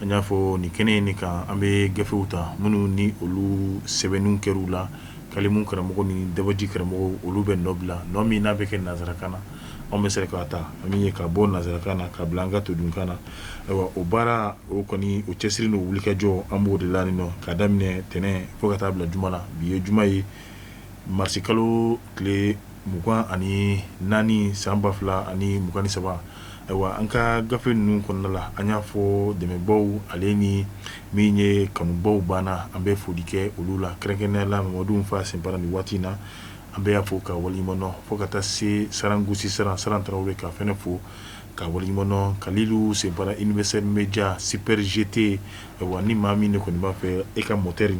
an y'a fɔ nin kɛnɛ in kan an bɛ gafew ta minnu ni olu sɛbɛnni kɛra u la kalimu karamɔgɔ ni dabaji karamɔgɔw olu bɛ nɔ bila nɔ min n'a bɛ kɛ nansarakan na an bɛ se k'a ta an ye ka bɔ nansarakan na ka bila an ka todunkan na ayiwa o baara o kɔni o cɛsiri n'o wulikajɔ an b'o de la nɔ ka daminɛ tɛnɛn fo ka taa bila juma la bi ye juma ye marisikalo tile mugan ani naani san ba fila ani mugan ni saba ayiwa an ka gafe ninnu kɔnɔna la an y'a fɔ dɛmɛbaw ale ni min ye kanubaw banna an bɛ foli kɛ olu la kɛrɛnkɛrɛnnenya la mamadu fa sinpara nin waati in na an bɛ a fo k'a waleɲumandɔn fo ka taa se saran gosi saran tarawele k'a fɛnɛ fo k'a waleɲumandɔn kalilu sinpara universel media super GT ayiwa ni maa min de kɔni b'a fɛ e ka motɛri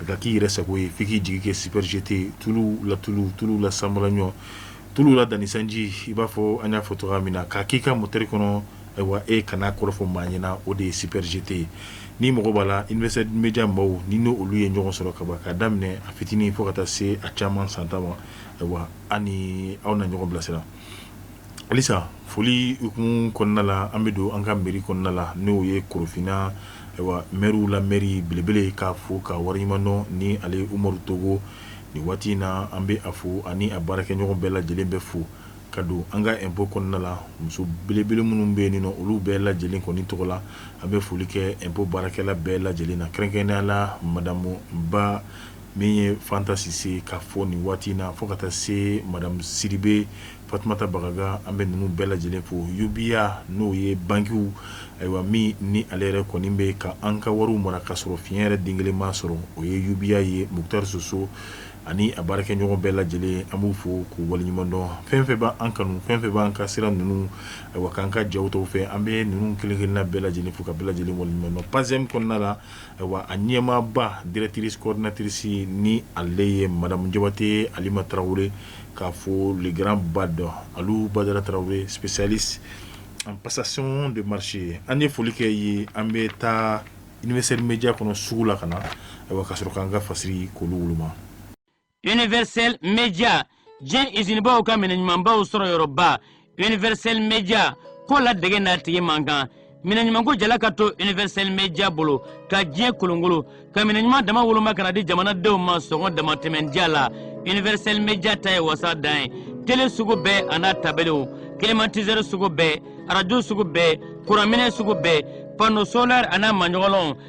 ka k'i yɛrɛ sago ye fo i k'i jigi kɛ super GT tulu la tulu tulu la sanbalaɲɔ tulu la danni sanji i b'a fɔ an y'a fɔ cogo min na k'a k'i ka moteri kɔnɔ ayiwa e kana kɔrɔfɔ maa ɲɛna na o de ye super GT ye ni mɔgɔ b'a la universel media maaw ni n' olu ye ɲɔgɔn sɔrɔ kaba k'a daminɛ a fitinin fo ka taa se a caman san tan ma ayiwa an ni aw na ɲɔgɔn bilasira halisa foli kun kɔnɔna la an bɛ don an ka mɛri kɔnɔna la n'o ye korofina ayiwa mɛriw la mɛri belebele k'a fo k'a waleɲumandɔn ni ale umaru togo nin waati in na an bɛ a fo ani a baarakɛɲɔgɔn bɛɛ lajɛlen bɛɛ fo ka don an ka impôt kɔnɔna la muso belebele minnu bɛ nin olu bɛɛ lajɛlen kɔni tɔgɔ la an bɛ foli kɛ impôt baarakɛla bɛɛ lajɛlen na kɛrɛnkɛrɛnya la madamu ba min ye fanta sise k'a fo nin waati in na fo ka taa se madamu sidibe Fatumata Bagaga an bɛ ninnu bɛɛ lajɛlen fo UBA n'o ye bankiw ayiwa min ni ale yɛrɛ kɔni bɛ ka an ka wariw mara ka sɔrɔ fiɲɛ yɛrɛ den kelen m'a sɔrɔ o ye UBA ye Mukutari Soso ani a baarakɛɲɔgɔn bɛɛ lajɛlen an b'u fo k'u waleɲumandɔn fɛn fɛn bɛ an kanu fɛn fɛn b'an ka sira ninnu ayiwa k'an ka jaw tɔw fɛ an bɛ ninnu kelen kelenna bɛɛ lajɛlen fo ka bɛɛ lajɛlen waleɲumandɔn PASEM kɔnɔna la ayiwa a ɲɛmaaba directrice coordinatrice ni ale ye Madamu Jabate Alima Tarawele k'a fo le grand bado alu badara tarawele spécialiste en passation de marché an ye foli kɛ ye an bɛ taa universel media kɔnɔ sugu la ka na ayiwa ka sɔrɔ k'an ka fasiri k'olu woloma universel media diɲɛ izinibaw ka minɛ ɲumanbaw sɔrɔ yɔrɔba universel media ko ladege n'a tigi man kan minɛɲumanko jala ka to universel media bolo ka diɲɛ kolonkolon ka minɛɲuman dama woloma ka na di jamanadenw ma sɔngɔ damatɛmɛn diya la universel media ta ye wasa dan ye tele sugu bɛɛ an'a tabaliw climatiseur sugu bɛɛ arajo sugu bɛɛ kuranminɛ sugu bɛɛ panneau solaire an'a maɲɔgɔlɔnw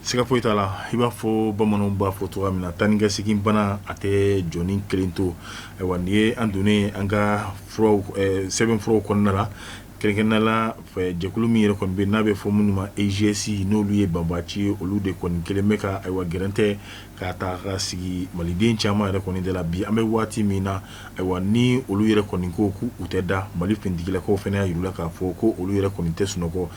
Siga foyi t'a la i b'a fɔ bamananw b'a fɔ cogoya min na tan nikɛ segin bana a tɛ jɔni kelen to ayiwa nin ye an donnen an ka sɛbɛnfuraw kɔnɔna la kɛrɛnkɛrɛnnenya la jɛkulu min yɛrɛ kɔni bɛ n'a bɛ fɔ minnu ma EIGS n'olu ye banbaciw ye olu de kɔni kɛlen bɛ ka ayiwa gɛrɛntɛ k'a ta ka sigi maliden caman yɛrɛ kɔni da la bi an bɛ waati min na ayiwa ni olu yɛrɛ kɔni ko k'u tɛ da Mali finitigilakaw fana y'a jira u la k'a fɔ ko olu yɛrɛ kɔni tɛ sunɔgɔ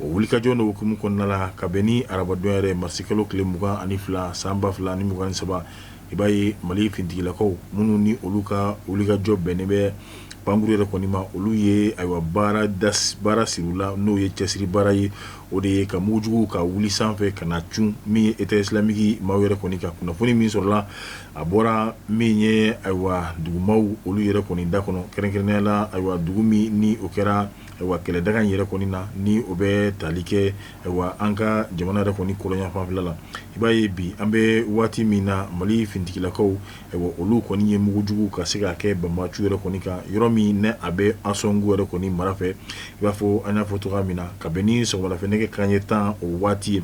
O wulikajɔ in hukumu kɔnɔna la ka bɛn ni arabadon yɛrɛ marisikalo tile mugan ani fila san ba fila ni mugan ni saba i b'a ye mali finitigilakaw minnu ni olu ka wulikajɔ bɛnnen bɛ pankurun yɛrɛ kɔni ma olu ye ayiwa baara sir'u la n'o ye cɛsiri baara ye o de ye ka mugujugu ka wuli sanfɛ ka na cun min ye État islamique maaw yɛrɛ kɔni ka kunnafoni min sɔrɔla a bɔra min ye ayiwa dugumaaw olu yɛrɛ kɔni da kɔnɔ kɛrɛnkɛrɛnnenya la ayiwa dugu min ni o kɛra ayiwa kɛlɛdaga in yɛrɛ kɔni na ni o bɛ tali kɛ ayiwa an ka jamana yɛrɛ kɔni kɔrɔnyanfanfɛla la i b'a ye bi an bɛ waati min na mali finitigilakaw ayiwa olu kɔni ye mugujugu ka se k'a kɛ banbaciw yɛrɛ kɔni kan yɔrɔ min n'a bɛ Ansongo yɛrɛ kɔni mara fɛ i b'a fɔ an y'a fɔ cogoya min na ka bɛn ni sɔgɔmadafɛ nɛgɛ kanɲɛ tan o waati ye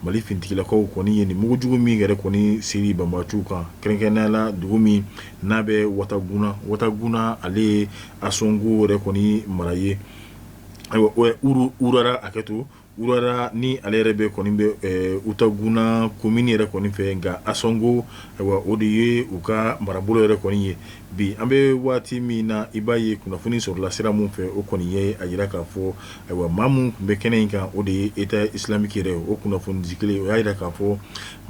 Mali finitigilakaw kɔni ye nin mugujugu min yɛrɛ kɔni siri banbaciw kan kɛrɛnkɛrɛnnenya la dugu min n'a bɛ Wataguna Wataguna ale ye Ansongo yɛrɛ kɔni mara ye ayiwa Urara hakɛto Urara ni ale yɛrɛ bɛ kɔni bɛ Wataguna komini yɛrɛ kɔni fɛ nka Ansongo ayiwa o de ye u ka marabolo yɛrɛ kɔni ye Bi an bɛ waati min na i b'a ye kunnafoni sɔrɔla sira min fɛ o kɔni ye a jira k'a fɔ ayiwa maa min tun bɛ kɛnɛ in kan o de ye État islamique yɛrɛ o kunnafonidi kelen o y'a jira k'a fɔ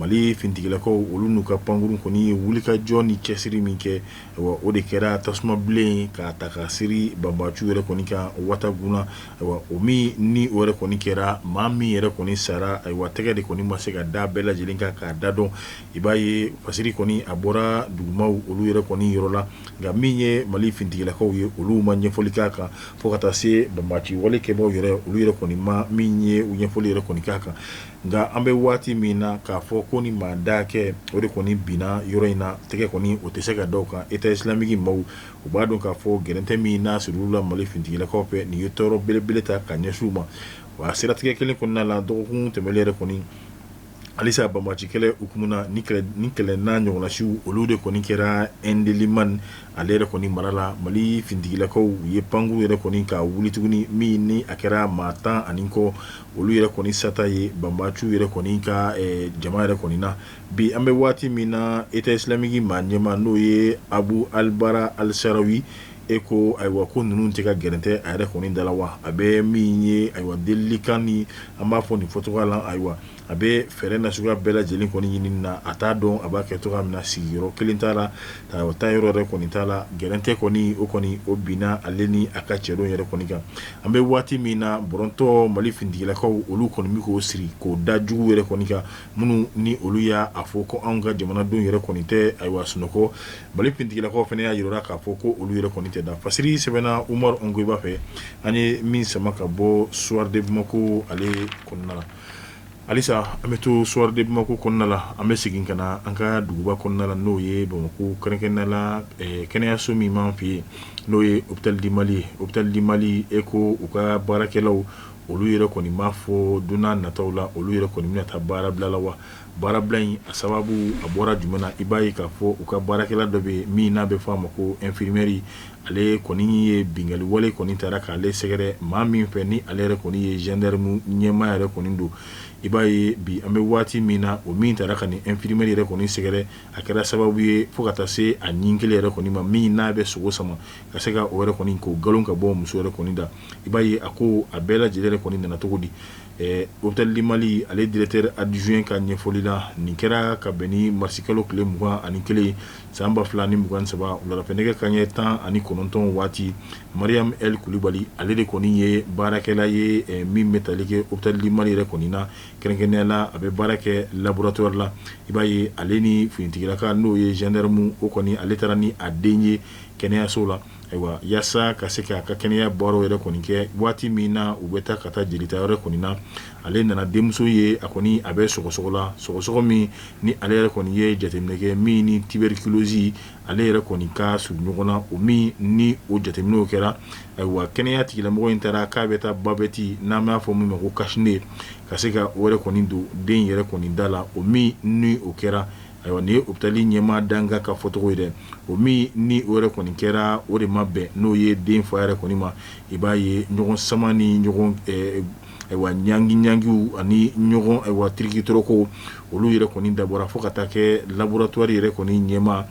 mali finitigilakaw olu n'u ka pankurun kɔni ye wulikajɔ ni cɛsiri min kɛ o de kɛra tasuma bilen k'a ta ka siri banbaciw yɛrɛ kɔni kan Wataguna ayiwa o min ni o yɛrɛ kɔni kɛra maa min yɛrɛ kɔni sara ayiwa tɛgɛ de kɔni ma se ka da bɛɛ lajɛlen kan k'a da dɔn i b'a ye fasiri kɔni a bɔra dugumaaw olu yɛrɛ kɔni yɔrɔ la nka min ye mali finitigilakaw ye olu ma ɲɛfɔli k'a kan fo ka taa se banbaci wale kɛbaaw yɛrɛ olu yɛrɛ kɔni ma min ye u ɲɛfɔli yɛrɛ kɔni k'a kan nka an bɛ waati min na k'a fɔ ko ni maa da kɛ o de kɔni binna yɔrɔ in na tɛgɛ kɔni o tɛ se ka da o kan État islamique maaw u b'a dɔn k'a fɔ gɛrɛntɛ min n'a siril'u la mali finitigilakaw fɛ nin ye tɔɔrɔ belebele ta ka ɲɛsin u ma wa a siratigɛ kelen kɔnɔna la dɔgɔkun tɛmɛnen yɛrɛ kɔni halisa banbaci kɛlɛ hukumu na ni kɛlɛ n'a ɲɔgɔnnasiw olu de kɔni kɛra Ɛndeliman ale yɛrɛ kɔni mara la mali finitigilakaw u ye pankurun yɛrɛ kɔni ka wuli tuguni min ni a kɛra maa tan ani kɔ olu yɛrɛ kɔni sata ye banbaciw yɛrɛ kɔni ka jama yɛrɛ kɔni na bi an bɛ waati min na État islamique maa ɲɛmaa n'o ye Abu Alibara Alisarawi ye E ko ayiwa ko ninnu tɛ ka gɛrɛntɛ a yɛrɛ kɔni da la wa a bɛ min ye ayiwa delilikan ni an b'a fɔ nin fɔcogo la ayiwa a bɛ fɛɛrɛ nasuguya bɛɛ lajɛlen kɔni ɲini na a t'a dɔn a b'a kɛ cogoya min na sigiyɔrɔ kelen t'a la a taa yɔrɔ yɛrɛ kɔni t'a la gɛrɛntɛ kɔni o kɔni o binna ale ni a ka cɛdenw yɛrɛ kɔni kan an bɛ waati min na bɔrɔntɔ mali finitigilakaw olu kɔni bɛ k'o siri k'o da jugu yɛrɛ kɔni kan minnu ni olu y'a fɔ ko anw ka jamanadenw yɛrɛ kɔni tɛ ayiwa sunɔgɔ mali finitigilakaw fana y'a jira k'a fɔ ko olu yɛrɛ kɔni tɛ da fasiri sɛbɛnna umaru Ongoiba fɛ an ye min sama ka bɔ Soir de Bamako ale kɔnɔna la halisa an bɛ to Soir de Bamako kɔnɔna la an bɛ segin ka na an ka duguba kɔnɔna la n'o ye bamakɔ kɛrɛnkɛrɛnnenya la kɛnɛyaso min b'an fɛ yen n'o ye Hôpital du Mali ye Hôpital du Mali e ko u ka baarakɛlaw olu yɛrɛ kɔni b'a fɔ don nataw la olu yɛrɛ kɔni bɛna taa baarabila la wa baarabila in a sababu a bɔra jumɛn i b'a ye k'a fɔ u ka baarakɛla dɔ bɛ min n'a bɛ fɔ a ma ko infirmière ale kɔni ye binkanni wale kɔni taara k'ale sɛgɛrɛ maa min fɛ ni ale yɛrɛ kɔni ye gendarme ɲɛmaa yɛrɛ kɔni don i b'a ye bi an bɛ waati min na o min taara ka nin infirmière yɛrɛ kɔni sɛgɛrɛ a kɛra sababu ye fo ka taa se a ɲin kelen yɛrɛ kɔni ma min n'a bɛ sogo sama ka se ka o yɛrɛ kɔni k'o galon ka bɔ muso yɛrɛ kɔni da i b'a ye a ko a bɛɛ lajɛlen yɛrɛ kɔni nana cogo di Hôpital du Mali ale directeur adjoint ka ɲɛfɔli la nin kɛra ka bɛn ni marisikalo tile mugan ani kelen san ba fila ni mugan saba wulada fɛ nɛgɛ kanɲɛ tan ani kɔnɔntɔn waati Mariam L Kulubali ale de kɔni ye baarakɛla ye min bɛ tali kɛ Hôpital du Mali yɛrɛ kɔni na kɛrɛnkɛrɛnnenya la a bɛ baara kɛ laboratoire la i b'a ye ale ni finitigilaka n'o ye gendarme o kɔni ale taara ni a den ye kɛnɛyaso la Ayiwa yaasa ka se k'a ka kɛnɛya baaraw yɛrɛ kɔni kɛ waati min na u bɛ taa ka taa jelitayɔrɔ kɔni na ale nana denmuso ye a kɔni a bɛ sɔgɔsɔgɔ la sɔgɔsɔgɔ min ni ale yɛrɛ kɔni ye jateminɛ kɛ min ni tuberculose ale yɛrɛ kɔni ka surun ɲɔgɔn na o min ni o jateminɛw kɛra ayiwa kɛnɛya tigilamɔgɔ in taara k'a bɛ taa bavette n'an b'a fɔ min ma ko cache-nez ka se ka o yɛrɛ kɔni don den yɛrɛ kɔni da la o min ni o kɛra Ayiwa nin ye hôpital ɲɛmaa dankan ka fɔcogo ye dɛ, o min ni o yɛrɛ kɔni kɛra o de ma bɛn n'o ye den fa yɛrɛ kɔni ma, i b'a ye ɲɔgɔn sama ni ɲɔgɔn ayiwa ɲangi ɲangiw ani ɲɔgɔn ayiwa tirikitɔrɔkow olu yɛrɛ kɔni dabɔra fo ka taa kɛ laboratoire yɛrɛ kɔni ɲɛmaa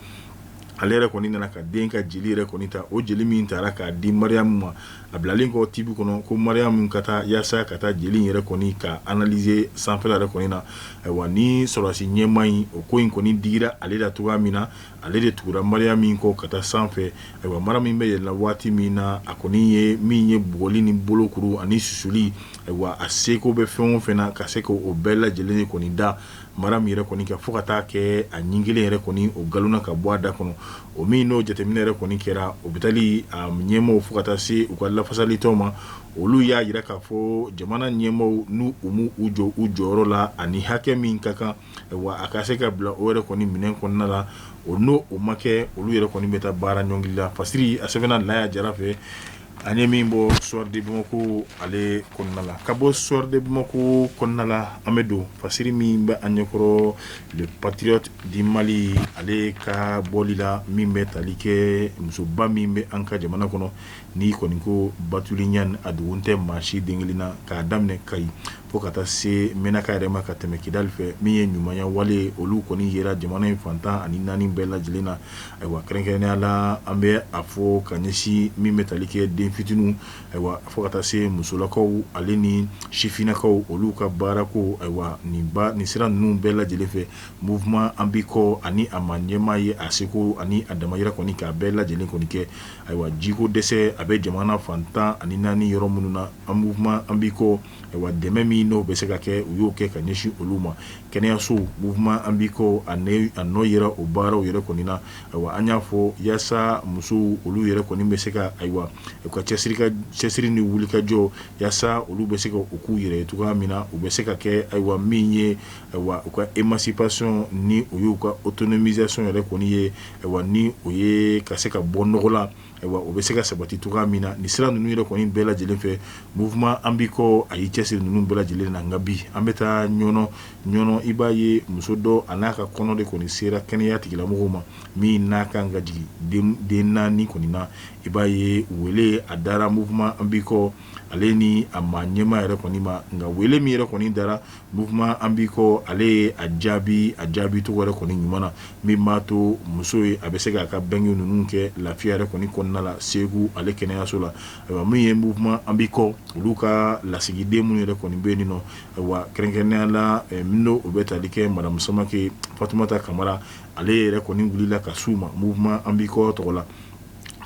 ale yɛrɛ kɔni nana ka den ka jeli yɛrɛ kɔni ta, o jeli min taara k'a di Mariyamu ma a bilalen kɔ tibi kɔnɔ ko Mariyamu ka taa yaasa ka taa jeli in yɛrɛ kɔni ka analyser sanfɛla yɛrɛ kɔni na ayiwa nin sɔrɔdasi ɲɛmaa in o ko in kɔni digira ale la cogoya min na ale de tugura Mariyamu in kɔ ka taa sanfɛ ayiwa Mariyamu bɛ yɛlɛnna waati min na a kɔni ye min ye bugɔli ni bolokuru ani susuli ayiwa a seko bɛ fɛn o fɛn na ka se k'o bɛɛ lajɛlen kɔni da mara min yɛrɛ kɔni kɛ fo ka taa kɛ a ɲin kelen yɛrɛ kɔni o galonna ka bɔ a da kɔnɔ o min n'o jateminɛ yɛrɛ kɔni kɛra o bɛ tali ɲɛmaaw fo ka taa se u ka lafasalitɔnw ma olu y'a yira k'a fɔ jamana ɲɛmaaw n' u ma u jɔ u jɔyɔrɔ la ani hakɛ min ka kan wa a ka se ka bila o yɛrɛ kɔni minɛn kɔnɔna la o n'o o ma kɛ olu yɛrɛ kɔni bɛ taa baara ɲɔngiri la fasiri a sɛbɛnna Laya Jara fɛ An ye min bɔ Soir de Bamako ale kɔnɔna la ka bɔ Soir de Bamako kɔnɔna la an bɛ don fasiri min bɛ an ɲɛkɔrɔ Le Patriote du Mali ale ka bɔli la min bɛ tali kɛ musoba min bɛ an ka jamana kɔnɔ n'i kɔni ko Batuli Ɲani a dogon tɛ maa si den kelen na k'a daminɛ Kayi fo ka taa se Menaka yɛrɛ ma ka tɛmɛ Kidali fɛ min ye ɲumanya wale olu kɔni yera jamana in fan tan ani naani bɛɛ lajɛlen na Ayiwa kɛrɛnkɛrɛnnenya la an bɛ a fɔ ka ɲɛsin min bɛ tali kɛ den fitiniw ayiwa fo ka taa se musolakaw ale ni sifinnakaw olu ka baara ko ayiwa nin nin sira ninnu bɛɛ lajɛlen fɛ Mouvement an b'i kɔ ani a ma ɲɛmaa ye a seko ani a damayira kɔni k'a bɛɛ lajɛlen kɔni kɛ ayiwa jiko dɛsɛ a bɛ jamana fan tan ani naani yɔrɔ minnu na an Mouvement an b'i kɔ ayiwa dɛmɛ min n'o bɛ se ka kɛ u y'o kɛ ka ɲɛsin olu ma kɛnɛyasow Mouvement an b'i kɔ a nɔ yera o baaraw yɛrɛ kɔni na ayiwa an y'a fɔ yasa musow olu yɛrɛ kɔni bɛ se ka ayiwa u ka cɛsiri ni wulikajɔ yasa olu bɛ se ka u k'u yɛrɛ ye cogoya min na u bɛ se ka kɛ ayiwa min ye ayiwa u ka émancipation ni o y'u ka autonomisation yɛrɛ kɔni ye ayiwa ni o ye ka se ka bɔ nɔgɔ la Ayiwa o bɛ se ka sabati cogoya min na nin sira ninnu yɛrɛ kɔni bɛɛ lajɛlen fɛ Mouvement an b'i kɔ a y'i cɛsiri ninnu bɛɛ lajɛlen na nka bi an bɛ taa Ɲɔnɔ Ɲɔnɔ i b'a ye muso dɔ a n'a ka kɔnɔ de kɔni sera kɛnɛya tigilamɔgɔw ma min n'a kan ka jigin den naani kɔni na i b'a ye wele a dara Mouvement an b'i kɔ ale ni a ma ɲɛma yɛrɛ kɔni ma nka wele min yɛrɛ kɔni dara Mouvement an b'i kɔ ale ye a jaabi a jaabi cogo yɛrɛ kɔni ɲuman na min b'a to muso ye a bɛ se k'a ka bange ninnu kɛ lafiya yɛrɛ kɔni kɔnɔna la Segu ale kɛnɛyaso la ayiwa min ye Mouvement an b'i kɔ olu ka lasigiden minnu yɛrɛ kɔni bɛ yen nɔ ayiwa kɛrɛnkɛrɛnnenya la min n'o o bɛ tali kɛ madame Samake Fatumata Kamara ale yɛrɛ kɔni wulila ka s'u ma Mouvement an b'i kɔ tɔgɔ la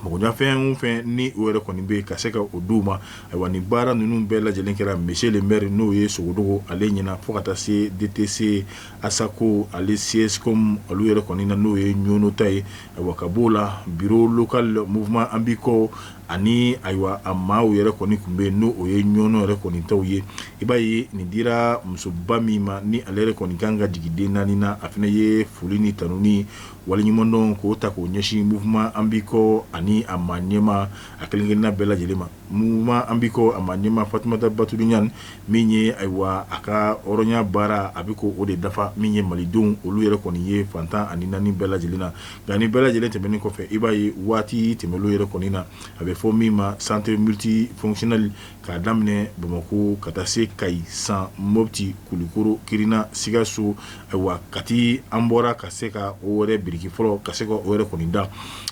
Mɔgɔyafɛn o fɛn ni o yɛrɛ kɔni bɛ ka se ka o d'u ma ayiwa ni baara ninnu bɛɛ lajɛlen kɛra monsieur le maire n'o ye Sogodogo ale ɲɛna fo ka taa se DTC Asako ale CSCOM olu yɛrɛ kɔni na n'o ye Ɲɔnɔ ta ye a ka b'o la bureau local Mouvement an b'i kɔ ani ayiwa a maaw yɛrɛ kɔni tun bɛ yen n' o ye Ɲɔnɔ yɛrɛ kɔni taw ye i b'a ye nin dira musoba min ma ni ale yɛrɛ kɔni kan ka jigin den naani na a fana ye foli ni tanun waliɲumandɔn k'o ta k'o ɲɛsin mouvement an bi kɔ ani a maa ɲɛmaa a kelen-kelenna bɛɛ lajɛlen ma mouvement an bi kɔ a maa ɲɛmaa fatumata batuli ɲani min ye ayiwa a ka hɔrɔnya baara a bɛ k'o de dafa min ye malidenw olu yɛrɛ kɔni ye fantan ani naani bɛɛ lajɛlen na nka nin bɛɛ lajɛlen tɛmɛnen kɔfɛ i b'a ye waati tɛmɛnen yɛrɛ kɔni na a bɛ fɔ min ma centre multifonctionnel k'a daminɛ bamakɔ ka taa se kayi san moti kulikoro kirina sikaso ayiwa kati an bɔra ka se ka o yɛrɛ biriki fɔlɔ ka se ka o yɛrɛ kɔni da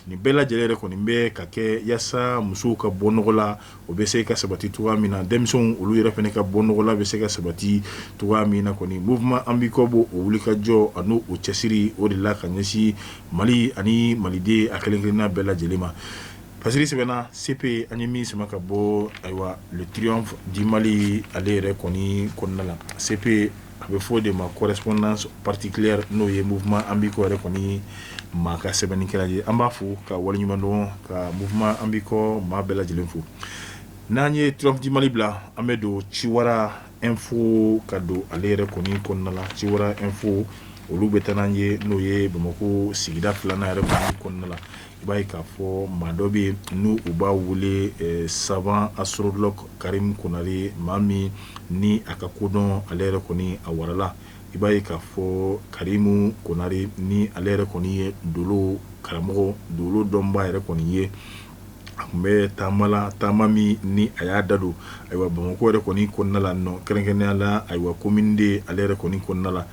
nin bɛɛ lajɛlen yɛrɛ kɔni bɛ ka kɛ yaasa musow ka bɔ nɔgɔ la o bɛ se ka sabati cogo min na denmisɛnw olu yɛrɛ fana ka bɔ nɔgɔ la bɛ se ka sabati cogo min na kɔni mouvement an bi kɔ b'o wulikajɔ ani o cɛsiri o de la ka ɲɛsin mali ani maliden a kelen-kelenna bɛɛ lajɛlen ma fasiri sɛbɛnna CP an ye min sama ka bɔ ayiwa triomphe du mali ale yɛrɛ kɔni kɔnɔna la CP a bɛ fɔ o de ma correspondance particulière n'o ye mouvement an bi kɔ yɛrɛ kɔni maa ka sɛbɛnnikɛla ye an b'a fo k'a waliɲumandɔn ka mouvement an bi kɔ maa bɛɛ lajɛlen fo n'an ye triomphe du mali bila an bɛ don ciwara info ka don ale yɛrɛ kɔni kɔnɔna la ciwara info olu bɛ taa n'an ye n'o ye bamakɔ sigida filanan yɛrɛ kɔnɔna la i b'a ye k'a fɔ maa dɔ bɛ yen n'u b'a wele savant astrologue karimu konare maa min ni a ka kodɔn ale yɛrɛ kɔni a warala i b'a ye k'a fɔ karimu konare ni ale yɛrɛ kɔni ye dolo karamɔgɔ dolo dɔnba yɛrɛ kɔni ye a tun bɛ taama la taama min ni a y'a da don ayiwa bamakɔ yɛrɛ kɔni kɔnɔna la nɔ kɛrɛnkɛrɛnnenya la ayiwa commune deux ale yɛrɛ kɔni kɔnɔna la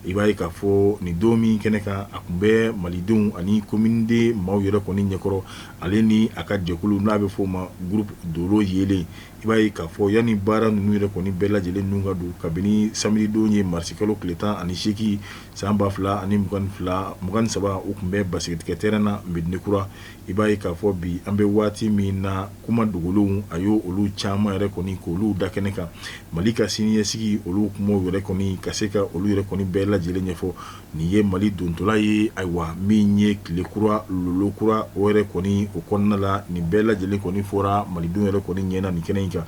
I b'a ye k'a fɔ nin don min kɛnɛ kan a tun bɛ malidenw ani commune deux maaw yɛrɛ kɔni ɲɛkɔrɔ ale ni a ka jɛkulu n'a bɛ f'o ma groupe dolo yelen i b'a ye k'a fɔ yanni baara ninnu yɛrɛ kɔni bɛɛ lajɛlen ninnu ka don kabini samedi don ye marisi kalo tile tan ani seegin san ba fila ani mugan ni fila mugan ni saba u tun bɛ basketkɛ terrain na medina kura i b'a ye k'a fɔ bi an bɛ waati min na kuma dogolenw a y'olu caman yɛrɛ kɔni k'olu da kɛnɛ kan mali ka siniɲɛsigi olu kumaw yɛrɛ kɔni ka se ka olu yɛrɛ kɔni bɛɛ lajɛlen ɲɛfɔ nin ye mali dontɔla ye ayiwa min ye tile kura lolo kura o yɛrɛ kɔni o kɔnɔna la nin bɛɛ lajɛlen kɔni fɔra malidenw yɛrɛ kɔni ɲɛna nin kɛnɛ in kan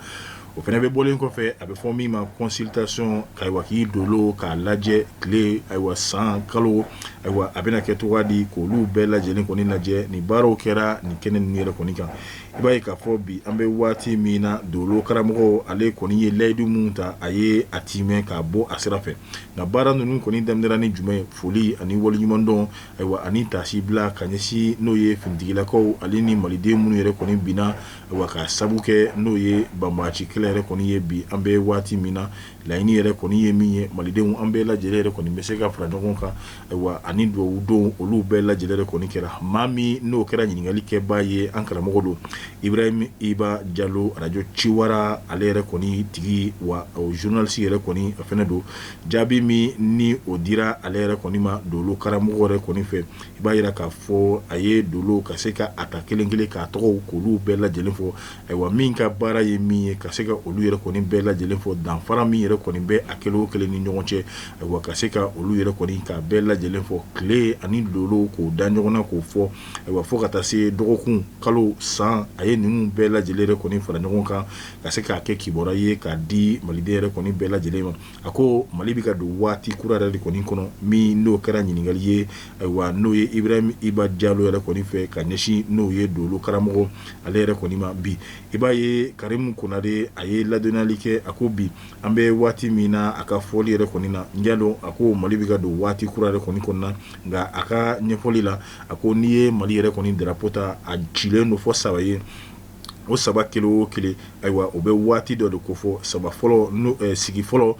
o fana bɛ bɔlen kɔfɛ a bɛ fɔ min ma consultation ayiwa k'i dolo k'a lajɛ tile ayiwa san kalo ayiwa a bɛna kɛ cogo di k'olu bɛɛ lajɛlen kɔni lajɛ nin baaraw kɛra nin kɛnɛ nin yɛrɛ kɔni kan i b'a ye k'a fɔ bi an bɛ waati min na dolo karamɔgɔ ale kɔni ye layidu minnu ta a ye a tiimɛ k'a bɔ a sira fɛ nka baara ninnu kɔni daminɛra ni jumɛn foli ani waleɲumandɔn ayiwa ani taasibila ka ɲɛsin n'o ye finitigilakaw ale ni maliden minnu yɛrɛ kɔni binna Wa ka sabu kɛ n'o ye banbaanci kɛlɛ yɛrɛ kɔni ye bi an bɛ waati min na laɲini yɛrɛ kɔni ye min ye malidenw an bɛɛ lajɛlen yɛrɛ kɔni bɛ se ka fara ɲɔgɔn kan ayiwa ani dugawu don olu bɛɛ lajɛlen yɛrɛ kɔni kɛra maa min n'o kɛra ɲininkali kɛbaa ye an karamɔgɔ don ibrahim iba jalo arajo ciwara ale yɛrɛ kɔni tigi wa zurunalisi yɛrɛ kɔni a fɛnɛ don jaabi min ni o dira ale yɛrɛ kɔni ma dolo karamɔgɔ yɛrɛ kɔni fɛ i b'a yira k'a fɔ a ye dolo ka se ka a ta kelen kelen k'a tɔgɔw k'olu bɛɛ lajɛlen fɔ ayiwa min ka baara ye min ye ka se ka olu yɛrɛ kɔni bɛɛ lajɛlen fɔ danfara min yɛrɛ kɔni bɛ a kelen o kelen ni ɲɔgɔn cɛ ayiwa ka se ka olu yɛrɛ kɔni k'a bɛɛ lajɛlen fɔ tile ani dolow k'o da ɲɔgɔn na k'o fɔ ayiwa fo ka taa se dɔgɔkun kalo san a ye ninnu bɛɛ lajɛlen yɛrɛ kɔni fara ɲɔgɔn kan ka se k'a kɛ kibaruya ye k'a di maliden yɛrɛ kɔni bɛɛ lajɛlen ma A ko mali bɛ ka don waati kura yɛrɛ de kɔni kɔnɔ min n'o kɛra ɲininkali ye ayiwa n'o ye ibrahim iba jalo yɛrɛ kɔni fɛ ka ɲɛsin n'o ye dolo karamɔgɔ ale yɛrɛ kɔni ma bi i b'a ye karimu konare a ye ladɔnniyali kɛ a ko bi an bɛ waati min na a ka fɔli yɛrɛ kɔni na n y'a dɔn a ko mali bɛ ka don waati kura yɛrɛ kɔni kɔnɔna nka a ka ɲɛfɔli la a ko n'i ye mali yɛrɛ kɔni darapo ta a cilen don fɔ saba ye o saba kelen o kelen ayiwa o bɛ waati dɔ de kofɔ saba fɔlɔ sigi fɔlɔ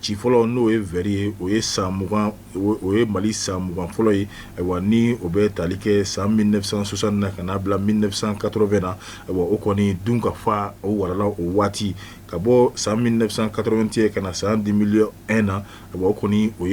ci fɔlɔ n'o ye vɛri ye o ye san mugan o ye mali san mugan fɔlɔ ye ayiwa ni o bɛ tali kɛ san mille neuf cent soixante na ka n'a bila mille neuf cent quatre-vingt na ayiwa o kɔni dunkafa o warala o waati ka bɔ san mille neuf cent quatre-vingt-un ka na san deux mille un na ayiwa o kɔni o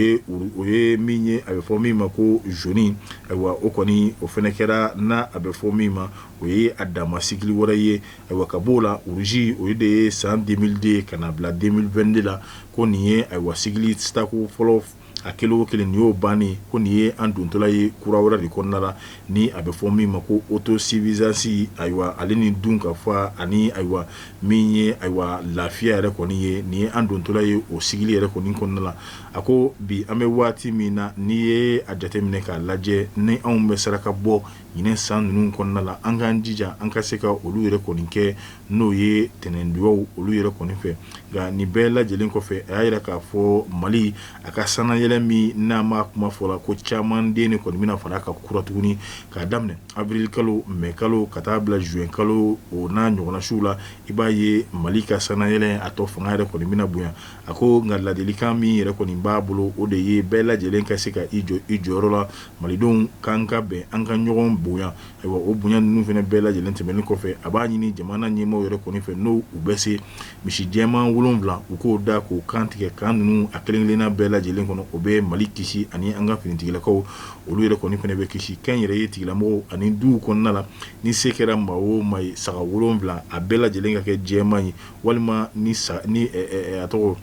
o ye min ye a bɛ fɔ min ma ko zoni ayiwa o kɔni o fɛnɛ kɛra n'a bɛ fɔ min ma o ye a dama sigili wɛrɛ ye ayiwa ka bɔ o la ruzi o de ye san deux mille deux ka n'a bila deux mille vingt-deux la ko nin ye ayiwa sigili tako fɔlɔ a kelen o kelen nin y'o bannen ko nin ye an dontɔla ye kura wɛrɛ de kɔnɔna la ni a bɛ fɔ min ma ko autosuffisance ayiwa ale ni dunkafa ani ayiwa min ye ayiwa lafiya yɛrɛ kɔni ye nin ye an dontɔla ye o sigili yɛrɛ kɔni kɔnɔna la a ko bi an bɛ waati min na n'i ye a jateminɛ k'a lajɛ ni anw bɛ saraka bɔ ɲinan san ninnu kɔnɔna la an k'an jija an ka se ka olu yɛrɛ kɔni kɛ n'o ye ntɛnɛndonyaw olu yɛrɛ kɔni fɛ nka nin bɛɛ lajɛlen kɔfɛ a y'a yira k'a fɔ mali a ka sannayɛlɛn min n'a makuma fɔla ko caman den de kɔni bɛna fara a kan kura tuguni k'a daminɛ awirili kalo mɛ kalo ka taa bila zuwɛn kalo o n'a ɲɔgɔnna suw la i b'a ye mali ka sannayɛlɛn a tɔ fanga yɛrɛ kɔni bɛna bonya a ko nka ladilikan min yɛrɛ kɔni b'a bolo o de ye bɛɛ lajɛlen ka se ka i jɔ i jɔyɔrɔ la Malidenw k'an ka bɛn an ka ɲɔgɔn bonya ayiwa o bonya ninnu fana bɛɛ lajɛlen tɛmɛnen kɔfɛ a b'a ɲini jamana ɲɛmaaw yɛrɛ kɔni fɛ n'o u bɛ se misi jɛman wolonwula u k'o da k'o kan tigɛ kan ninnu a kelen-kelenna bɛɛ lajɛlen kɔnɔ o bɛ mali kisi ani an ka finitigilakaw olu yɛrɛ kɔni fana bɛ kisi kɛ yɛrɛ ye tigilamɔgɔw ani duw kɔnɔna la ni se kɛra maa o maa ye saga wolonwula a bɛɛ lajɛlen ka kɛ jɛman ye walima ni a tɔgɔ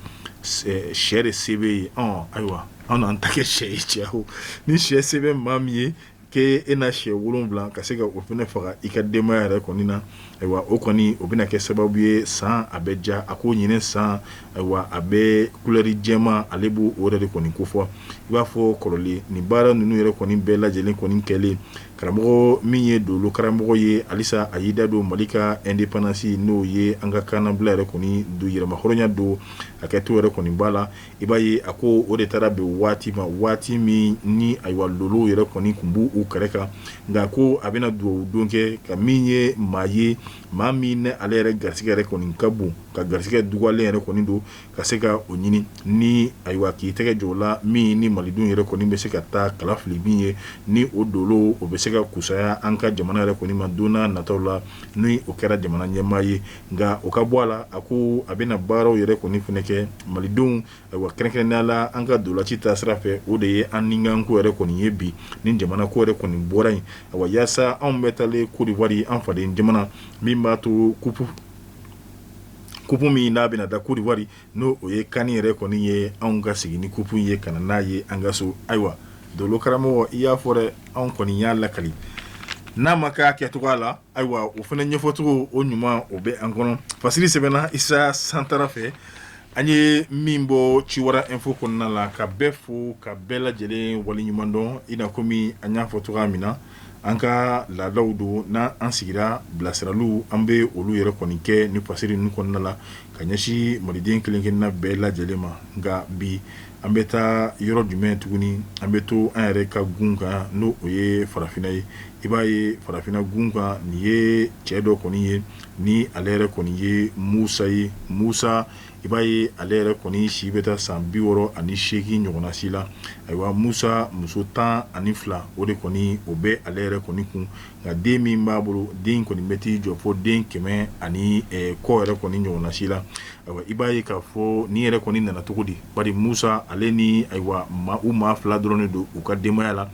sɛ de se b'i ye ayiwa An an ta kɛ sɛ ye cɛ o ni sɛ se bɛ maa min ye k'e e na sɛ wolon wolonwula ka se ka o fana faga i ka denbaya yɛrɛ kɔni na ayiwa o kɔni o bɛna kɛ sababu ye san a bɛ ja a ko ɲinan san ayiwa a bɛ kulɛri jɛman ale b' o yɛrɛ de kɔni ko fɔ i b'a fɔ kɔrɔlen nin baara ninnu yɛrɛ kɔni bɛɛ lajɛ lajɛlen kɔni kɛlen karamɔgɔ min ye dolo karamɔgɔ ye halisa a y'i da don mali ka ɛndepandansi n'o ye an ka kannabila yɛrɛ kɔni don yɛrɛmahɔrɔnya don a kɛ to yɛrɛ kɔni b'a la I b'a ye a ko o de taara bɛn waati ma waati min ni ayiwa lolow yɛrɛ kɔni kun b' u kɛrɛ kan nka ko a bɛna dugawu don kɛ ka min ye maa ye maa min n'ale yɛrɛ garisɛgɛ yɛrɛ kɔni ka bon ka garisɛgɛ dogolen yɛrɛ kɔni don ka se ka o ɲini ni ayiwa k'i tɛgɛ jɔ la min ni malidenw yɛrɛ kɔni bɛ se ka taa kalafili min ye ni o dolo o bɛ se ka kusaya an ka jamana yɛrɛ kɔni ma don nataw la n' o kɛra jamana ɲɛmaa ye nka o ka bɔ a la a ko a bɛna baaraw yɛrɛ kɔni fana kɛ malidenw ayiwa kɛrɛnkɛrɛnnenya la an ka ntolaci ta sira fɛ o de ye an nikanko yɛrɛ kɔni ye bi ni jamana ko yɛrɛ kɔni bɔra yen ayiwa yaasa anw bɛ taalen kɔdiwari an faden jamana min b'a to kupu min n'a bɛna da kɔdiwari n'o o ye kani yɛrɛ kɔni ye anw ka segin ni kupu ye ka na n'a ye an ka so ayiwa dolo karamɔgɔ i y'a fɔ dɛ anw kɔni y'a lakali n'a ma kɛ a kɛcogoya la Ayiwa o fana ɲɛfɔcogo o ɲuman o bɛ an kɔnɔ fasiri sɛbɛnna isa santara fɛ an ye min bɔ ciwara ɛnfo kɔnɔna la ka bɛɛ fo ka bɛɛ lajɛlen waleɲumandɔn i na kɔmi an y'a fɔ cogoya min na an ka laadaw don n' an sigira bilasiraliw an bɛ olu yɛrɛ kɔni kɛ ni fasiri ninnu kɔnɔna la ka ɲɛsin maliden kelenkelenna bɛɛ lajɛlen ma nka bi An bɛ taa yɔrɔ jumɛn tuguni an bɛ to an yɛrɛ ka gun kan n'o o ye farafinna ye i b'a ye farafinna gun kan nin ye cɛ dɔ kɔni ye ni ale yɛrɛ kɔni ye musa ye musa i b'a ye ale yɛrɛ kɔni si bɛ taa san bi wɔɔrɔ ani seegin ɲɔgɔnnasi la ayiwa musa muso tan ani fila o de kɔni o bɛ ale yɛrɛ kɔni kun nka den min b'a bolo den kɔni bɛ t'i jɔ fo den kɛmɛ ani kɔ yɛrɛ kɔni ɲɔgɔnnasi la i b'a ye k'a fɔ nin yɛrɛ kɔni nana cogo di bari musa ale ni ayiwa maa u maa fila dɔrɔn don u ka denbayaya la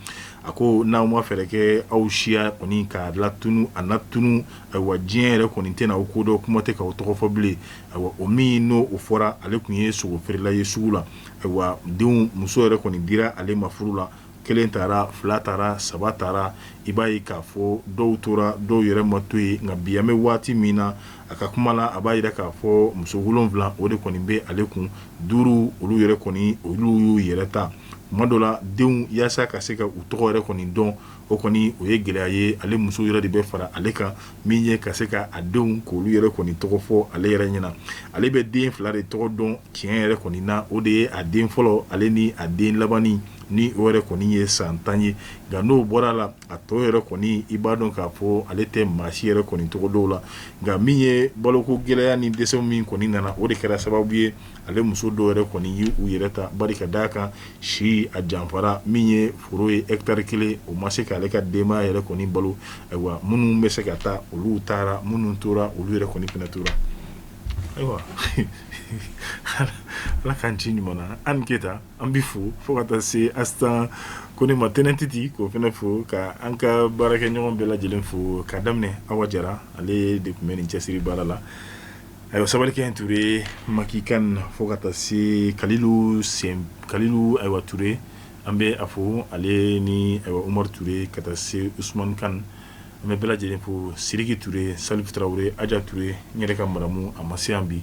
a ko n'aw ma fɛɛrɛ kɛ aw siya kɔni kana tunun a na tunun ayiwa diɲɛ yɛrɛ kɔni tɛna aw ko dɔn kuma tɛ k'aw tɔgɔ fɔ bilen ayiwa o min n'o o fɔra ale tun ye sogo feerela ye sugu la ayiwa denw muso yɛrɛ kɔni dira ale ma furu la kelen taara fila taara saba taara i b'a ye k'a fɔ dɔw tora dɔw yɛrɛ ma to ye nka bi an bɛ waati min na a ka kuma la a b'a yira k'a fɔ muso wolonfila o de kɔni bɛ ale kun duuru olu yɛrɛ kɔni olu y'u yɛrɛ ta kuma dɔ la denw yaasa ka se ka u tɔgɔ yɛrɛ kɔni dɔn o kɔni o ye gɛlɛya ye ale muso yɛrɛ de bɛ fara ale kan min ye ka se ka a denw k'olu yɛrɛ kɔni tɔgɔ fɔ ale yɛrɛ ɲɛna ale bɛ den fila de tɔgɔ dɔn tiɲɛ yɛrɛ kɔni na o de ye a den fɔlɔ ale ni a den labanni ni o yɛrɛ kɔni ye san tan ye nka n'o bɔra a la a tɔ yɛrɛ kɔni i b'a dɔn k'a fɔ ale tɛ maa si yɛrɛ kɔni tɔgɔ dɔn la nka min ye baloko gɛlɛya ni dɛsɛ min kɔni nana o de kɛra sababu ye ale muso dɔw yɛrɛ kɔni y'u yɛrɛ ta bari ka d'a kan si a janfara min ye foro ye hectare kelen o ma se k'ale ka denbaya yɛrɛ kɔni balo ayiwa minnu bɛ se ka taa olu taara minnu tora olu yɛrɛ kɔni fana tora ayiwa ala k'an ci ɲuman an keyita an bɛ fo fo ka taa se astan kone matɛnɛn titi k'o fana fo ka an ka baarakɛɲɔgɔn bɛɛ lajɛlen fo k'a daminɛ awa jara ale de tun bɛ nin cɛsiri baara la ayiwa sabalikɛ tuure maki kan fo ka taa se kalilu ayiwa tuure an bɛ a fo ale ni ayiwa umar tuure ka taa se usmani kan an bɛ bɛɛ lajɛlen fo siriki tuure salifu tarawele aja tuure n yɛrɛ ka maramu a ma se bi